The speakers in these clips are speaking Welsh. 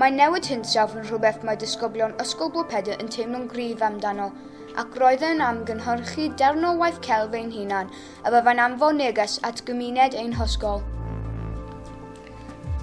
Mae newid hinsawdd yn rhywbeth mae disgyblion Ysgol Bro Pedr yn teimlo'n gryf amdano, ac roedd e yn amgynhyrchu darn o waith celf ein hunan a fyddai'n anfon neges at gymuned ein hysgol.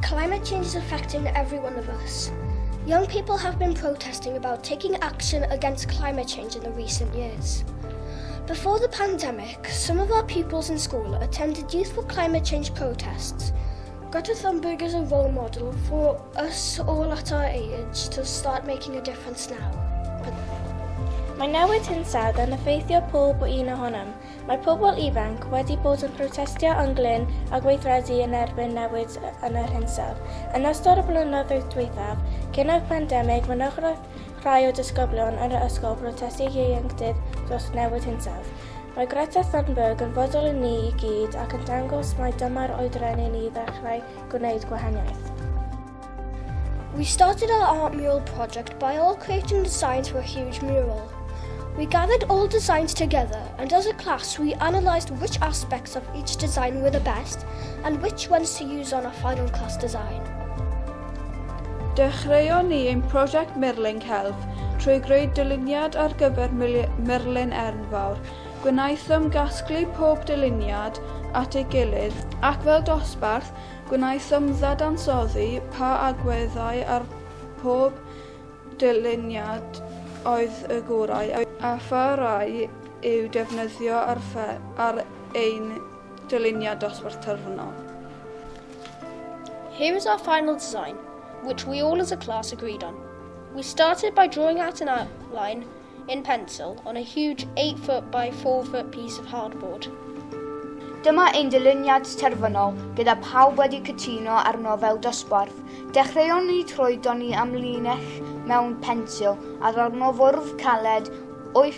Climate change is affecting every one of us. Young people have been protesting about taking action against climate change in the recent years. Before the pandemic, some of our pupils in school attended youthful climate change protests, Got a Thunberg as a role model for us all at our age to start making a difference now. Mae newid hinsawdd yn effeithio pob o un ohonom. Mae pobl ifanc wedi bod yn protestio yn glyn a gweithredu yn erbyn newid yn yr hinsawdd. Yn ystod y blynyddoedd dwythaf, cyn y pandemig, mynychwraeth Rhai o disgyblion yn yr ysgol brotestio ieuenctid dros newid hinsawdd. Mae Greta Thunberg yn fodel i ni i gyd ac yn dangos mai dyma'r oedran i ni ddechrau gwneud gwahaniaeth. We started our art mural project by all creating the signs for a huge mural. We gathered all the signs together and as a class we analysed which aspects of each design were the best and which ones to use on our final class design. Dechreuon ni ein prosiect Mirling Health trwy greu dyluniad ar gyfer murlun enfawr. Gwnaethom gasglu pob dyluniad at ei gilydd ac fel dosbarth, gwnaethom ddadansoddi pa agweddau ar pob dyluniad oedd y gorau a pha rai i'w defnyddio ar ein dyluniad dosbarth terfynol. Here is our final design, which we all as a class agreed on. We started by drawing out an outline in pencil on a huge 8 foot by 4 foot piece of hardboard. Dyma ein dyluniad terfynol gyda pawb wedi cytuno arno fel dosbarth. Dechreuon ni trwy doni am linell mewn pensil a ddarno fwrdd caled 8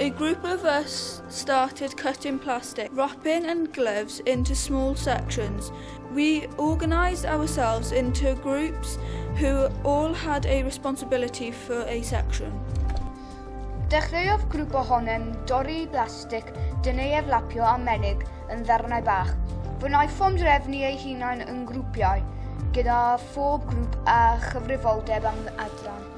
A group of us started cutting plastic, wrapping and gloves into small sections. We organised ourselves into groups who all had a responsibility for a section. Dechreuodd grŵp ohonem dorri blastig, dyn ei eflapio a menig yn ddarnau bach. Fe wnaethom drefnu ei hunain yn grwpiau, gyda phob grŵp a chyfrifoldeb am adran.